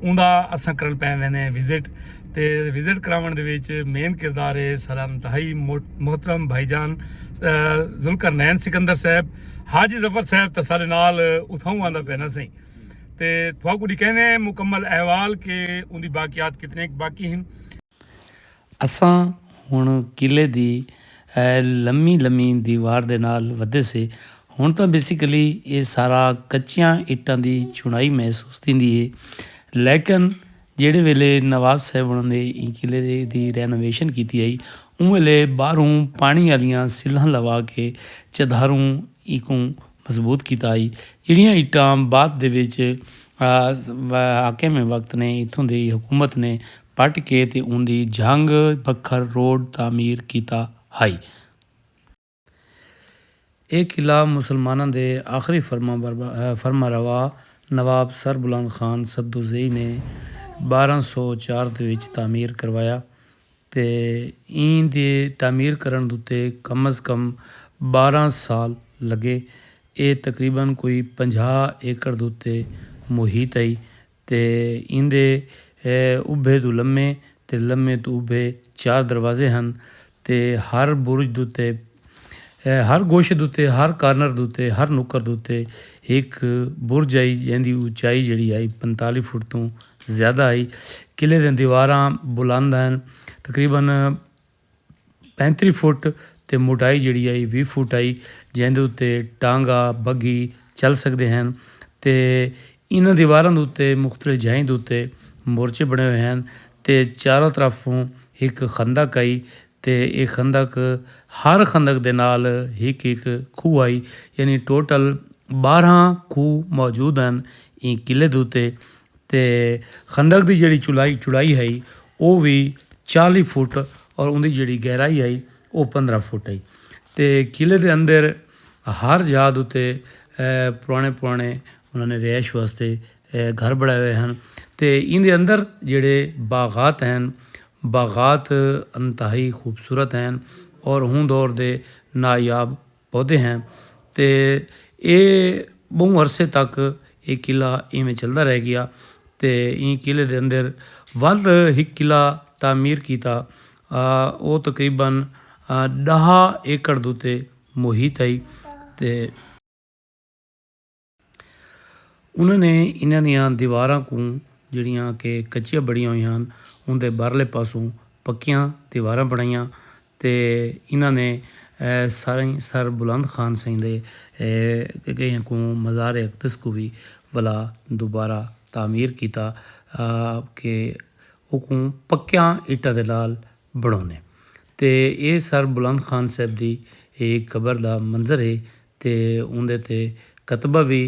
اوندا اساں کرݨ پئے ویندے ہیں وزٹ تے وزٹ کراوݨ دے وچ مین کردار ہے سارا انتہائی محترم بھائی جان ذوالقرنین سکندر صاحب حاجی ظفر صاحب تے سارے نال اتھاؤں آندا پینا سائیں تے تھوا کو ڈکھیندے ہیں مکمل احوال کہ اوندی باقیات کتنے باقی ہیں اساں ہݨ قلعے دی لمی لمی دیوار دے نال ودھے سے۔ ہݨ تاں بیسیکلی ایہ سارا کچیاں اٹاں دی چݨائی محسوس تھیندی ہے۔ لیکن جیڑھے ویلے نواب صاحب ہݨاں نے ایں قلعے دی رینوویشن کیتی ہئی اوں ویلے ٻاہروں پاݨی آلیاں سلھاں لوا کے چدھاروں ایکوں مضبوط کیتا ہئی۔ جیڑھیاں اٹاں بعد دے وچ حاکم وقت نے اتھوں دی حکومت نے پٹ کے تے اوندی جھنگ بکھر روڈ تعمیر کیتا ہئی۔ اے قلعہ مسلماناں دے آخری فرمانروا نواب سر بلند خان سدوزئی نے بارہاں سو چار دے وچ تعمیر کروایا تے ایں دے تعمیر کرݨ اتے کم از کم بارہاں سال لڳے۔ اے تقریبا کوئی پنجاہ ایکڑ اتے محیط ہئی تے ایندے ابھے توں لمے تے لمے توں ابھے چار دروازے ہن تے ہر برج دوتے ہر گوشے دوتے ہر کارنر دوتے ہر نکر دوتے ہک برج ہئی جیندی اونچائی جیڑھی ہئی پنتالی فٹ توں زیادہ ہئی قلعے دیاں دیواراں بلند ہن تقریبا پینتری فٹ تے موٹائی جیڑھی ہئی ویہہ فٹ ہئی جیندے اتے ٹانگا، بگھی، چل سگدے ہن تے انہاں دیواراں دے اتے مختلف جھائیں دے اتے مورچے بݨے ہوئے ہن تے چاراں طرفوں ہک خندق ہئی تے اے خندق ہر خندق دے نال ہک ہک کھوہ ہئی یعنی ٹوٹل ٻارہاں کھوہ موجود ہن ایں قلعے دے اتے تے خندق دی جیڑھی چوڑائی ہئی او وی چالی فٹ تے اوندی جیڑھی گہرائی ہئی او پندرہ فٹ ہئی تے قلعے دے اندر ہر جاہ دے اتے پرانے پرانے انہاں نے رہائش واسطے گھر بنڑائے ہوئے ہن تے ایندے اندر جیڑھے باغات ہن باغات انتہائی خوبصورت ہن تے ہوں دور دے نایاب۔ پودے ہیں تے اے بہوں عرصے تک اے قلعہ ایویں چلدا رہ گیا تے ایں قلعے دے اندر ودھ ہک قلعہ تعمیر کیتا او تقریبا ݙاہ ایکڑ دے اتے محیط ہئی تے انہاں نے انہاں دیاں دیواراں کوں جیڑھیاں کہ کچیاں بنڑیاں ہویاں ہن اوندے باہرلے پاسوں پکیاں دیواراں بنڑائیاں تے انہاں نے سائیں سر بلند خان سئیں دے کہیں کوں مزار اقدس کوں وی ولا دوبارہ تعمیر کیتا کہ اوکوں پکیاں اٹاں دے نال بنڑونے تے اے سر بلند خان صاحب دی قبر دا منظر ہے تے اوندے تے کتبہ وی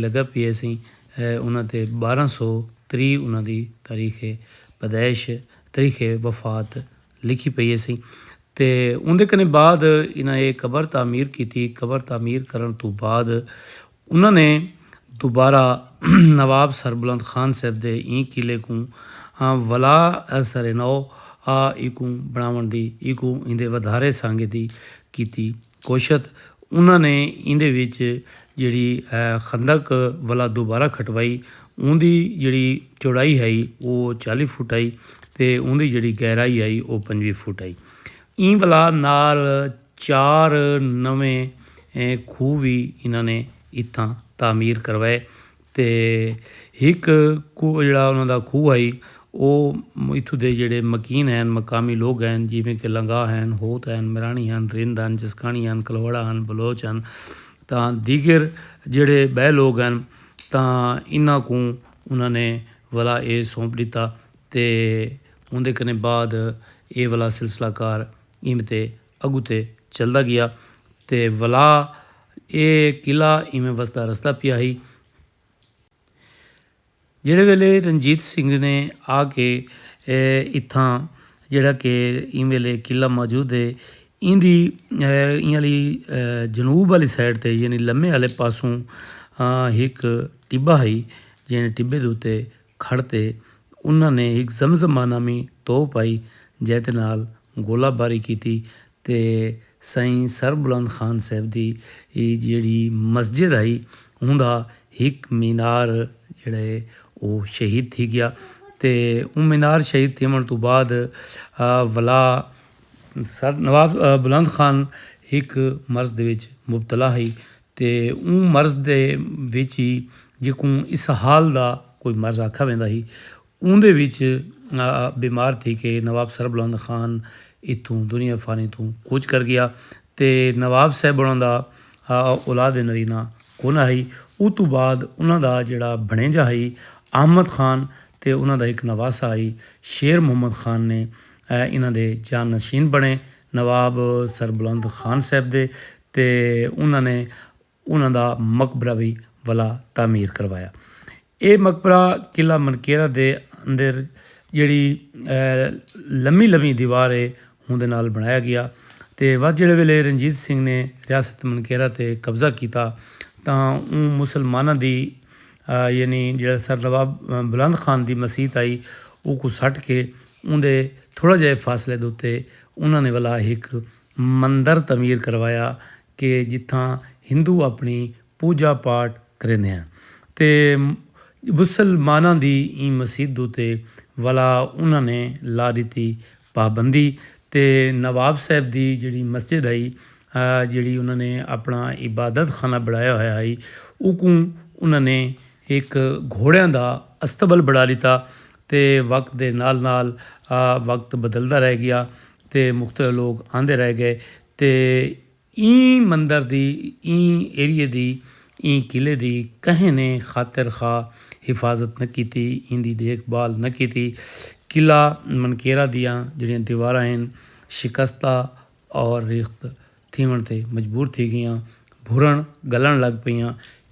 لگا پیا سی انہاں تے بارہ سو تری انہاں دی تاریخ پیدائش تاریخ وفات لکھی پئی ہیسی تے اوندے کنے بعد انہاں اے قبر تعمیر کیتی قبر تعمیر کرن توں بعد انہاں نے دوبارہ نواب سربلند خان صاحب دے ایں قلعے کوں ولا سر نو آ ایکوں بنڑاونڑ دی ایکوں ایندے ودھارے سانگے دی کیتی کوشت۔ انہاں نے ایندے وچ جیڑھی خندق ولا دوبارہ کھٹوائی اوندی جیڑھی چوڑائی ہئی او چالی فٹ ہئی تے اوندی جیڑھی گہرائی ہئی او پنجوی فٹ ہئی۔ ایں ولا نال چار نویں کھوہ وی انہاں نے اتھاں تعمیر کروائے تے ہک کوہ جیڑھا انہاں دا کھوہ ہئی او اتھوں دے جیڑھے مکین ہن مقامی لوگ ہن جیویں کہ لنگاہ ہن، ہوت ہن، مراݨی ہن، رند ہن، جسکاݨی ہن، کلہوڑا ہن، بلوچ ہن تاں دیگر جیڑھے ٻئے لوگ ہن تاں انہاں کوں انہاں نے ولا اے سونپ ݙتا تے اوندے کنے بعد اے ولا سلسلہ کار اینویں تے اڳتے چلدا ڳیا تے ولا اے قلعہ اینویں وسدا رسدا پیا ہئی۔ جیڑھے ویلے رنجیت سنگھ نے آ کے اتھاں جیڑھا کہ ایں ویلے قلعہ موجود ہے ایندی ایہہ آلی جنوب آلی سائڈ تے یعنی لمے آلے پاسوں ہک ٹبہ ہئی جیں ٹبے دے اتے کھڑ تے انہاں نے ہک زمزمہ نامی توپ آئی جئیں دے نال گولہ باری کیتی تے سئیں سربلند خان صاحب دی جیڑھی مسجد ہئی اوندا ہک مینار جیڑھا ہے او شہید تھی گیا تے اوں مینار شہید تھیوݨ توں بعد ولا سر نواب بلند خان ہک مرض دے وچ مبتلا ہئی تے اوں مرض دے وچ ہی جیکوں اسہال دا کوئی مرض آکھا ویندا ہی اوندے وچ بیمار تھی کے نواب سربلند خان اتھوں دنیا فانی توں کوچ کر گیا تے نواب صاحب انہاں دا اولاد نرینہ کونا ہئی اتوں بعد انہاں دا جیڑا بھنڑیجا ہئی احمد خان تے انہاں دا ہک نواسہ ہئی شیر محمد خان نے انہاں دے جانشین بنڑے نواب سربلند خان صاحب دے تے انہاں نے انہاں دا مقبرہ وی ولا تعمیر کروایا۔ ایہ مقبرہ قلعہ منقیرہ دے اندر جیڑھی لمی لمی دیوار ہے اوندے نال بنڑایا گیا تے ودھ جیڑھے ویلے رنجیت سنگھ نے ریاست منقیرہ تے قبضہ کیتا تاں اوں مسلماناں دی یعنی جیڑھا سر نواب بلند خان دی مسیت آئی اوکوں سٹ کے اوندے تھوڑا جے فاصلے دے اتے انہاں نے ولا ہک مندر تعمیر کروایا کہ جتھاں ہندو اپݨی پوجا پاٹ کریندے ہن تے مسلماناں دی ایں مسیت دے اتے ولا انہاں نے لا ݙتی پابندی تے نواب صاحب دی جیڑھی مسجد ہئی جیڑھی انہاں نے اپݨا عبادت خانہ بݨایا ہویا ہئی اوکوں انہاں نے ہک گھوڑیاں دا اصطبل بݨا ݙتا تے وقت دے نال نال وقت بدلدا رہ ڳیا تے مختلف لوک آندے رہ ڳئے تے ایں مندر دی، ایں ایریے دی، ایں قلعے دی کہیں نے خاطر خواہ حفاظت نہ کیتی، ایندی ڈیکھ بھال نہ کیتی۔ قلعہ منکیرا دیاں جیڑھیاں دیواراں ہن شکستہ اور ریخت تھیوݨ تے مجبور تھی ڳیاں، بھرݨ ڳلݨ لڳ پئیاں۔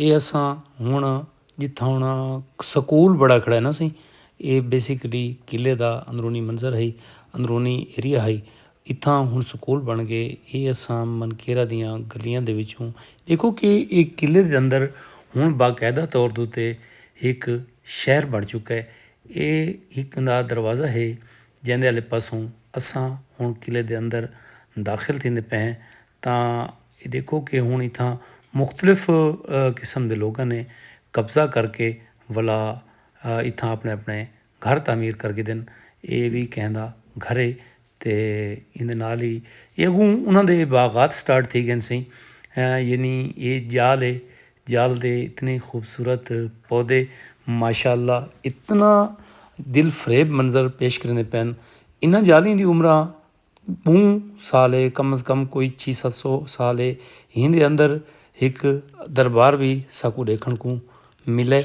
اے اساں ہن جتھاں ہن سکول بڑا کھڑا ہے نا سی اے بیسیکلی قلعے دا اندرونی منظر ہئی اندرونی ایریا ہئی اتھاں ہن سکول بن گئے اے اساں من کیرا دیاں گلیاں دے وچوں دیکھو کہ اے قلعے دے اندر ہن باقاعدہ طور دے اتے ہک شہر بن چکا ہے اے ہک دا دروازہ ہے جیندے آلے پاسوں اساں ہن قلعے دے اندر داخل تھیندے پئے ہیں۔ تاں ایہ ݙیکھو کہ ہݨ اتھاں مختلف قسم دے لوکاں نے قبضہ کر کے ولا اتھاں اپݨے اپݨے گھر تعمیر کر گھدن۔ ایہ وی کہیں دا گھر ہے تے ایندے نال ہی ایہ اڳوں انہاں دے باغات سٹارٹ تھی ڳئن سئیں۔ یعنی ایہ ڄال ہے ڄال دے اتنے خوبصورت پودے ماشاء اللہ اتنا دل فریب منظر پیش کریندے پئن انہاں ڄالی دی عمراں ٻہوں سال اے کم از کم کوئی چھی ست سو سال اے ہین دے اندر ہک دربار وی ساکوں ݙیکھݨ کوں ملے۔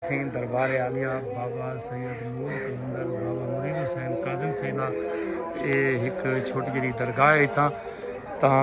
سین دربار عالیہ بابا سید نور قلندر بابا مرید حسین کاظم سین دا اے ہک چھوٹی جیہڑی درگاہ اے اتھاں تاں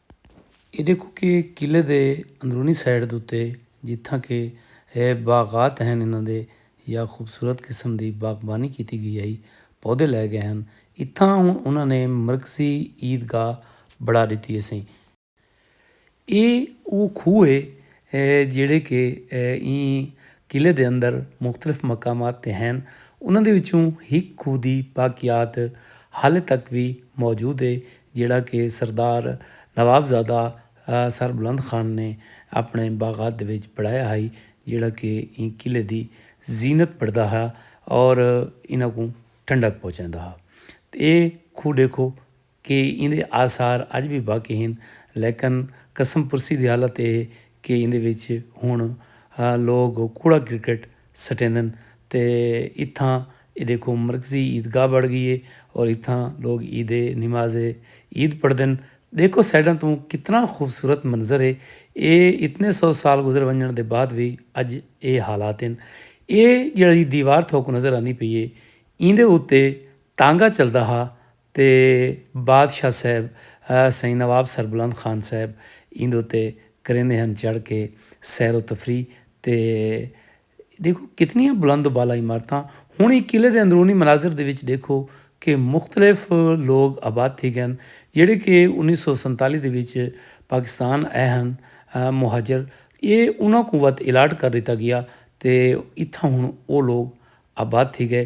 اے ݙیکھو کہ قلعے دے اندرونی سائیڈ دے اتے جتھاں کہ اے باغات ہن انہاں دے یا خوبصورت قسم دی باغبانی کیتی ڳئی ہئی، پودے لائے ڳئے ہن۔ اتھاں ہݨ انہاں نے مرکزی عید گاہ بݨا ݙتی ہیسی۔ اے او کھوہ ہے جیڑھے کہ ایں قلعے دے اندر مختلف مقامات تے ہن۔ انہاں دے وچوں ہک کھوہ دی باقیات حالے تک وی موجود ہے جیڑھا کہ سردار نواب زادہ سر بلند خان نے اپنڑے باغات دے وچ بنڑایا ہئی جیڑھا کہ ایں قلعے دی زینت بنڑدا ہا اور انہاں کوں ٹھنڈک پہنچیندا ہا۔ تے ایہ کھوہ ڈیکھو کہ ایندے آثار اج وی باقی ہن لیکن قسم پرسی دی حالت اے ہے کہ ایندے وچ ہݨ لوک کوڑا کرکٹ سٹیندن تے اتھاں اے ݙیکھو مرکزی عیدگاہ بݨ ڳئی اے اور اتھاں لوک عید نماز عید پڑھدن ݙیکھو سائیڈاں توں کتنا خوبصورت منظر اے اے اتنے سو سال گزر ونڄݨ دے بعد وی اڄ اے حالات ہن اے جیڑھی دیوار تھوکوں نظر آندی پئی اے ایندے اتے تانگا چلدا ہا تے بادشاہ صاحب سئیں نواب سربلند خان صاحب ایندے اتے کریندے ہن چڑھ کے سیر و تفریح تے ݙیکھو کتنیاں بلند و بالا عمارتاں ہݨ ایں قلعے دے اندرونی مناظر دے وچ ݙیکھو کہ مختلف لوک آباد تھی ڳئن جیڑھے کہ انیس سو سنتالی دے وچ پاکستان آئے ہن مہاجر اے انہاں کوں وت الاٹ کر ݙتا ڳیا تے اتھاں ہݨ او لوک آباد تھی ڳئے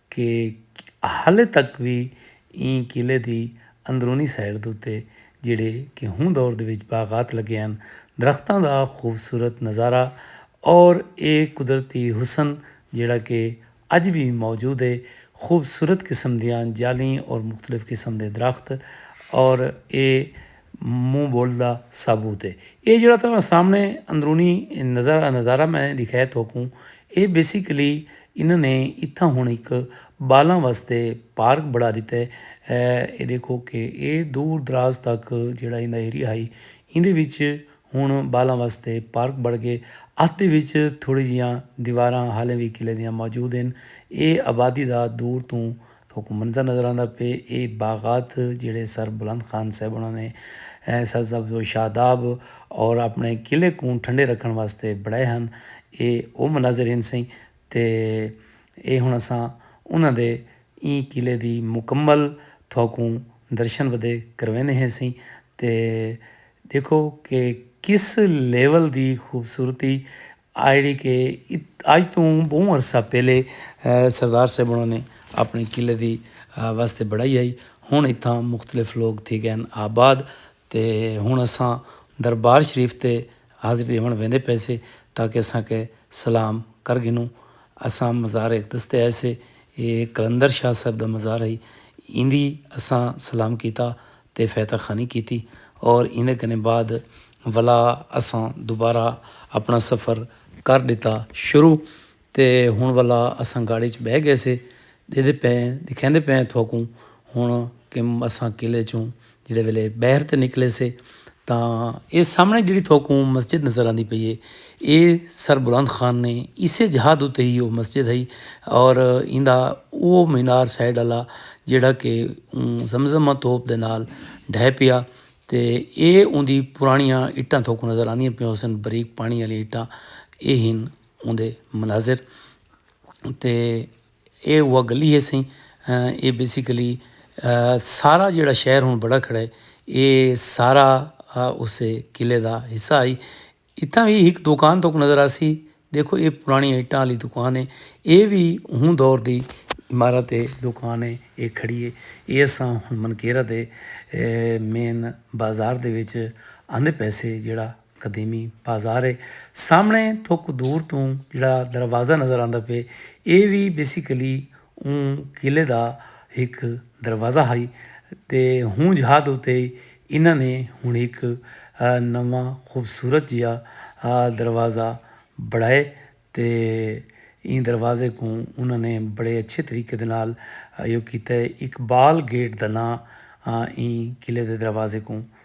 کہ ہالے تک وی ایں قلعے دی اندرونی سائیڈ دے اتے جیڑھے کہ ہوں دور دے وچ باغات لگے ہن درختاں دا خوبصورت نظارہ اور اے قدرتی حسن جیڑھا کہ اج وی موجود ہے خوبصورت قسم دیاں جالیں اور مختلف قسم دے درخت اور اے منہ بول دا ثابوت ہے۔ ایہ جیڑھا تہاڈے سامنے اندرونی نظارہ میں ڈکھائے تہاکوں ایہ بیسیکلی انہاں نے اتھاں ہن ہک بالاں واسطے پارک بنا ڈتا ہے۔ ایہ ڈیکھو کہ ایہ دور دراز تک جیڑھا ایندا ایریا ہئی ایندے وچ ہن بالاں واسطے پارک بن گئے۔ اتھ دے وچ تھوڑی جیہاں دیواراں حالی وی قلعے دیاں موجود ہن۔ ایہ آبادی دا دور توں تھوکوں منظر نظر آندا پئے اے باغات جیڑھے سر بلند خان صاحب انہاں نے سر سبز و شاداب اور اپنے قلعے کوں ٹھنڈے رکھن واسطے بنڑائے ہن اے او مناظر ہن سئیں تے اے ہن اساں انہاں دے ایں قلعے دی مکمل تھوکوں درشن ودے کرویندے ہیں سئیں تے ڈیکھو کہ کس لیول دی خوبصورتی آہڑی کہ اج توں بہوں عرصہ پہلے سردار صاحب انہوں نے اپنے قلعے دی واسطے بڑھائی آئی ہن اتھاں مختلف لوگ تھی گئے آباد تے ہن اساں دربار شریف تے حاضری ݙیوݨ ویندے پئے سے تاکہ اساں کے سلام کر گھنوں اساں مزار اقدس تے آئے سے ایہ قلندر شاہ صاحب دا مزار ہئی ایندی اساں سلام کیتا تے فیتہ خانی کیتی اور ایندے کنے بعد ولا اساں دوبارہ اپنا سفر کر ڈتا شروع تے ہن ولا اساں گاڑی اچ بہ گئے سے ڈیدھے پئے ہیں ڈکھیندے پئے ہیں تھوکوں ہن کہ اساں قلعے چوں جیڑے ویلے بہر تے نکلے سے تاں اے سامنے جیڑی تھوکوں مسجد نظر آندی پئی ہے اے سربلند خان نے اسے جہاں دو تہی او مسجد ہئی اور ایندا او مینار سائیڈ والا جیڑا کہ زمزمہ توپ دے نال ڈھے پیا تے اے اوندی پرانیاں اٹاں تھوکو نظر آندیاں پیوں سن بریک پانی والی اٹاں اے ہن اوندے مناظر تے اے او گلی ہے سی اے بیسیکلی سارا جیڑا شہر ہن بڑا کھڑا ہے اے سارا اسے قلعے دا حصہ ہئی اتھاں وی ہک دکان تہاکوں نظر آسی ڈیکھو اے پرانڑی اٹاں آلی دکان ہے اے وی اوں دور دی عمارت ہے دکان ہے اے کھڑی ہے اے اساں ہن منکیرا دے مین بازار دے وچ آندے پئے سے جیڑھا قدیمی بازار ہے سامنے تھوکو دور توں جیڑھا دروازہ نظر آندا پئے اے وی بیسیکلی اوں قلعے دا ہک دروازہ ہئی تے ہوں جھاد اتے ہی انہاں نے ہن ہک نواں خوبصورت جیا دروازہ بنڑائے تے ایں دروازے کوں انہاں نے بڑے اچھے طریقے دے نال ایہو کیتے اقبال گیٹ دا ناں ایں قلعے دے دروازے کوں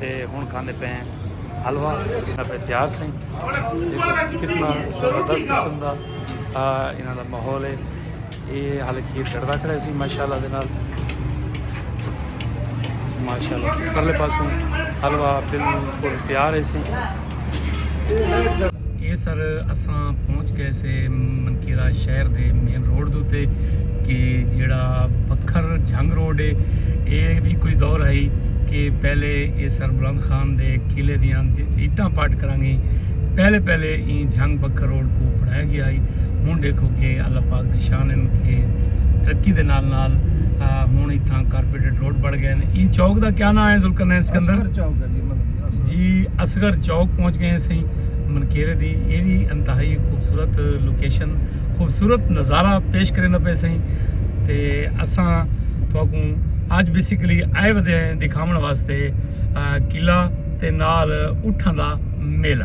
تے ہن کھاندے پئے ہیں حلوہ انہاں پہ تیار سئیں دیکھو کتنا زبردست قسم دا انہاں دا ماحول ہے یہ حال کھیر کڑدا کھڑے سی ماشاءاللہ دے نال ماشاءاللہ سی پرلے پاسوں حلوہ بالکل تیار ہے سی اے سر اساں پہنچ گئے سے منکیرا شہر دے مین روڈ دوتے کہ جیڑا بکھر جھنگ روڈ ہے اے بھی کوئی دور ہائی کہ پہلے اے سر بلند خان دے قلعے دیاں ایٹاں پٹ کران گئیں پہلے پہلے این جھنگ بکھر روڈ کو بنایا گیا ہائی ہن ڈیکھو کہ اللہ پاک دے شان ہیں کہ ترقی دے نال نال ہن اتھاں کارپیٹڈ روڈ بڑھ گئے ہیں این چوک دا کیا نام ہے ذوالقرنین سکندر جی اصغر چوک پہنچ گئے سہی منکیرے دی یہ بھی انتہائی خوبصورت لوکیشن خوبصورت نظارہ پیش کریں پہ سہی تے اساں تو کو اج بیسیکلی آئے ودے ہیں دکھاون واسطے قلعہ تے نال اٹھاں دا میلہ